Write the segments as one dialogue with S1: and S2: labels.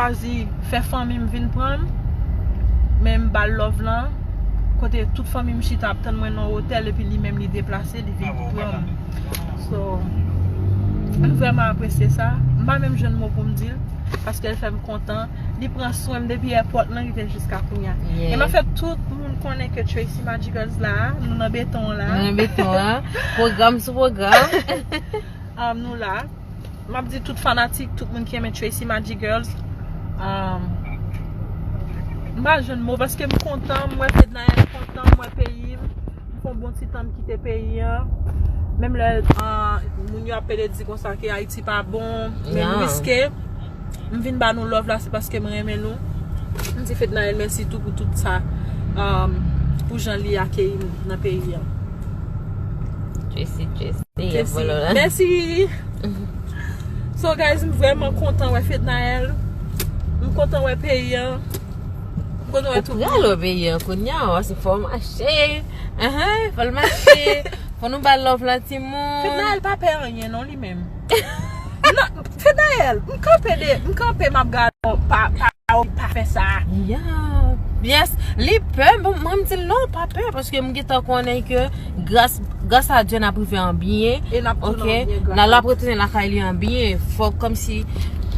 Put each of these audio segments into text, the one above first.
S1: Chwazi fè fanmi m vin pran m Men m ba l love lan Kote tout fanmi m chita ap tann mwen nan otèl Epi li menm li deplase li vin pran m So m vrèman apresye sa M pa menm jwenn mo pou m di l Paske l fè m kontan Li pran swen m depi èpòt lan rive jiska kounya E m ap fè tout moun konnen ke Tracy Magicals la a Nou nan beton an la a Nou nan beton an Pwogram sou
S2: pwogram
S1: Nou la a Map di tout fanatik, tout moun ki renmen Tracy Magic Girls M pa jwenn mo paske m kontan M wè Fednaelle m kontan M wè peyi m M fon bon ti tan m kite peyi an Menm lè moun yo ap pede di konsa ke Ayiti pa bon Men m riske M vin ba nou love la se paske m renmen nou. M di Fednaelle mèsi tou pou tout sa pou jan li akeyi m nan peyi an. Tracy
S2: Tracy ap volo la. Mèsi
S1: Riri. So guys m vrèman kontan wè Fednaelle. M kontan wè peyi an. M kontan wè tout moun. Ou pral wè peyi an kounya
S2: ou se fòw mache. Fòl mache. Fò nou bal love la timoun. Fednaelle pa pè anyen
S1: non li menm. Nan, Fednaelle, m kanpe de, m kanpe map gade w pa, pa, pa fè sa. Ya,
S2: yes, li pè, bon mwen m di l non pa pè paske m gentan konnen ke gras, gras a Dye nap rive an byen, E nap tounen an byen gras a Dye. Nan lap retounen lakay li an byen, fòk kòmsi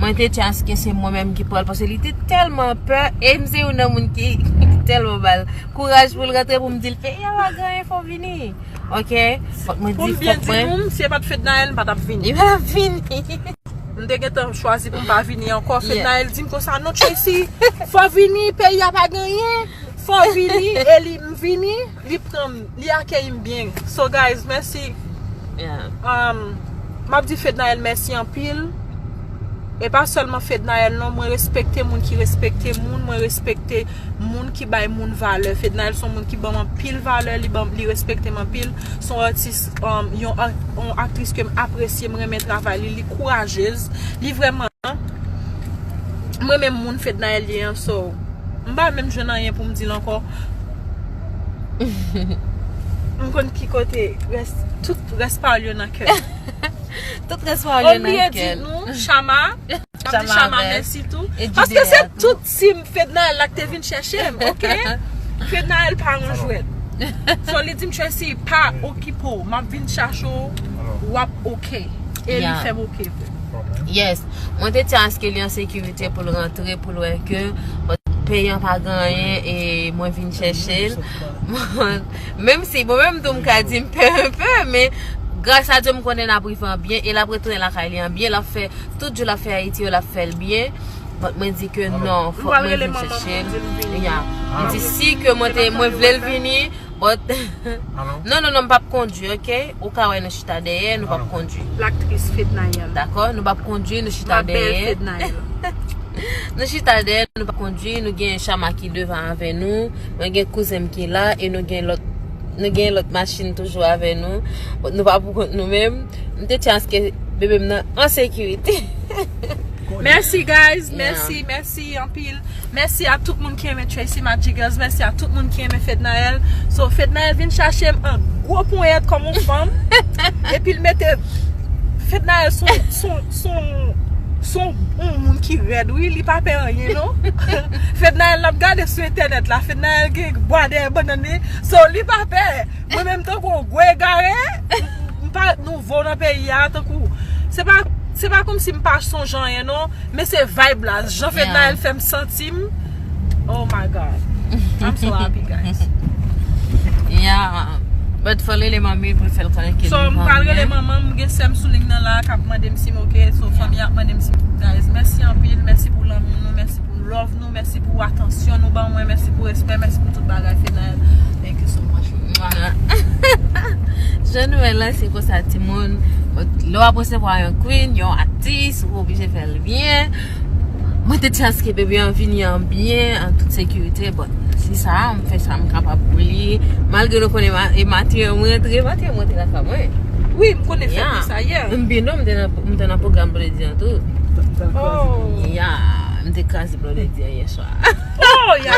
S2: mwen te di aske se mwen menm ki pral paske li te tèlman pè e m se youn nan moun ki tèlman ba l kouraj pou l rantre pou m di l Feyala, gran enfò vini. Ok fok mwen di fok mwen. Si e pat
S1: fednaelle m patap vini. M patap vini.
S2: M te
S1: gentan chwazi pou m pa vini anko fednaelle di m konsa non Tracy fo vini peyi a pa gen anyen fo vini e li m vini li pran m li akeyi m byen so guys mèsi map di fednaelle mèsi anpil e pa selman fednaelle non mwen respekte moun ki respekte moun mwen respekte Moun ki bay moun valè. Fednaelle son moun ki banm anpil valè, li banm li respektem anpil, son atis yon aktris kem apresye, m renmen travay li, li kourajez, li vrèman m renmen moun Fednaelle ye an so m pa menm jwenn anyen poum dil ankò m konn ki kote rès tout rès pawòl yo nan kèm. Tout
S2: rès pawòl yo nan kèl. Ou bliye di nou Shama.
S1: Map di chama mèsi tou. Paske se tout team fednaelle la ki te vin chèchem ok fednaelle pa yon jwèt so li dim Tracy pa okipe w map vin chache w wap ok e li fèm ok vre. Yes
S2: Mwen te di aske li an sekirite poul rantre poul wè ke peyi an pa gen anyen e mwen vin chèche l menm si bon menm tou m ka di m pè un peu men gras a Dye m konnen lap rive an byen e lap retounen lakay li an byen lap fè Tout jou lap fè ayiti yo lap fèl byen but mwen di ke non fòk mwen vin chèchel ya li di si ke mwen te mwen vlel vini but non non non m pap kondwi ok ou ka wè nou chita dèyè nou pap kondwi
S1: dakò nou pap kondwi
S2: nou chita dèyè nou chita dèyè nou pap kondwi nou gen chama ki devan avè nou mwen gen kouzenm ki la e nou gen lòt Nou gen lòt machin toujou avè nou. Nou pa pou kont nou menm. M te chans ke bebe m nan an sekirite.
S1: Mèsi guys, mèsi, mèsi anpil. Mèsi a tout moun ki renmen Tracy Magic Girls. Mèsi a tout moun ki renmen Fednaelle. So Fednaelle vin chache m an gwo ponyèt kòm yon fanm. Epi l mete Fednaelle sou. Son on moun ki rèd wi li pa pè anyen non Fednaelle nap gade sou entènèt la Fednaelle gen bwa dèyè bannann li so li pa pè mwen menm tankou on gwo egare m pa nouvo nan peyi a tankou se pa se pa kòmsi m pa sonje anyen non men se vayb la jan Fednaelle fèm santi Sim oh my god I'm so happy guys. Yeah
S2: but fò rele manmi pou l fè l konnen ke li vanyan. So m pral rele manman
S1: m gen sè m sou ling nan la a kap mande m si m ok so fanmi an ap mande m si m ok guys mèsi anpil mèsi pou lanmou nou mèsi pou love nou mèsi pou atansyon nou ban mwen mèsi pou respè mèsi pou tout bagay Fedaelle thank you so much mwah.
S2: Jan nou wè la se konsa timoun lè w ap resevwa yon queen yon atis ou oblije fè l byen. Mwen te di aske bebe an vini an byen, an tout sekirite, bon, si sa a, m fè sa m kapab pou li, malgre nou konnen e maten an m rantre, maten an m rantre lakay mwen. Wi, m konnen fèt
S1: li sa yè. M byen non, m
S2: te nan pwogram blodi an tou. Ou te kraze blodi an. Ya, m te kraze blodi an yèswa. O! Ya!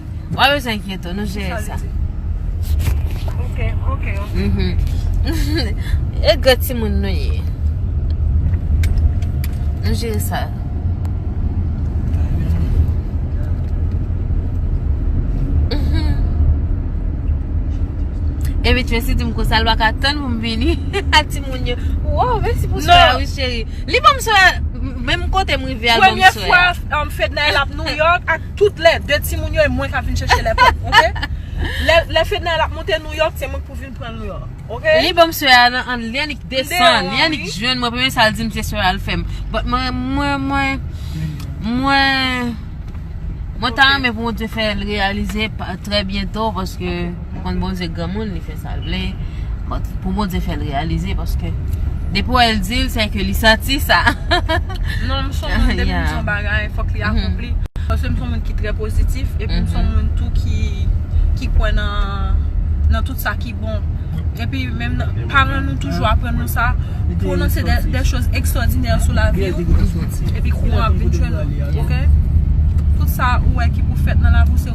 S2: Wap bezwen enkyete w, nou jere sa. Ok,
S1: ok, ok.
S2: E gre timoun nou ye. Nou jere sa. E bit mesi di m konsa l baka tann pou m vini. A timoun yo. Wou, mesi pou swa a wi cheri. Li banm swa, menm kote m rive al banm swa. Premye fwa
S1: Fedna
S2: el ap
S1: Nouyok ak. Tout lè 2 timoun yo e mwen kap vin chèche lè pap ok Lè fednaelle ap monte nouyòk se mwen k pou vin pranl nouyòk ok. Li banm sè a nan
S2: an li an li k desann li an li k jwenn mwen premye sal dim se sè a l fèm but mwen mwen mwen mwen mwen ta renmen pou bondye fè l reyalize trè byento paske ou konn bondye granmoun li fè sa. Sal vle Bon pou Bondye fèl reyalize paske Depi wè l dil se ke li santi sa Non m
S1: son moun depi m di yon bagay fòk li akonpli Paske m son moun ki trè pozitif epi m son moun tou ki kwè nan tout sa ki bon Epi menm nan paran nou toujou aprann nou sa Pwononse de choz ekstwòdinè sou lavi w Epi kouran ap vin jwenn ou ok Tout sa ou wè ki pou fèt nan lavi w se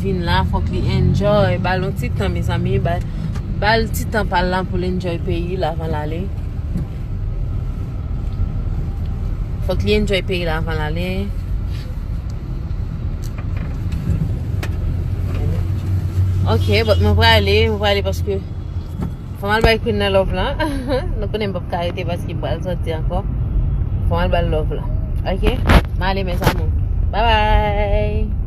S2: vin la fok li enjoy bal yon ti tan mezanmi bal ti tan pal la poul enjoy peyi l avan l ale fok li enjoy peyi l avan l ale ok mwen prale mwen prale paske Fòm al bay Queen nan love lan Nou konnen m pap ka rete paske m pral soti ankò Fòm al bal love lan Ok M ale mes amour Bye bye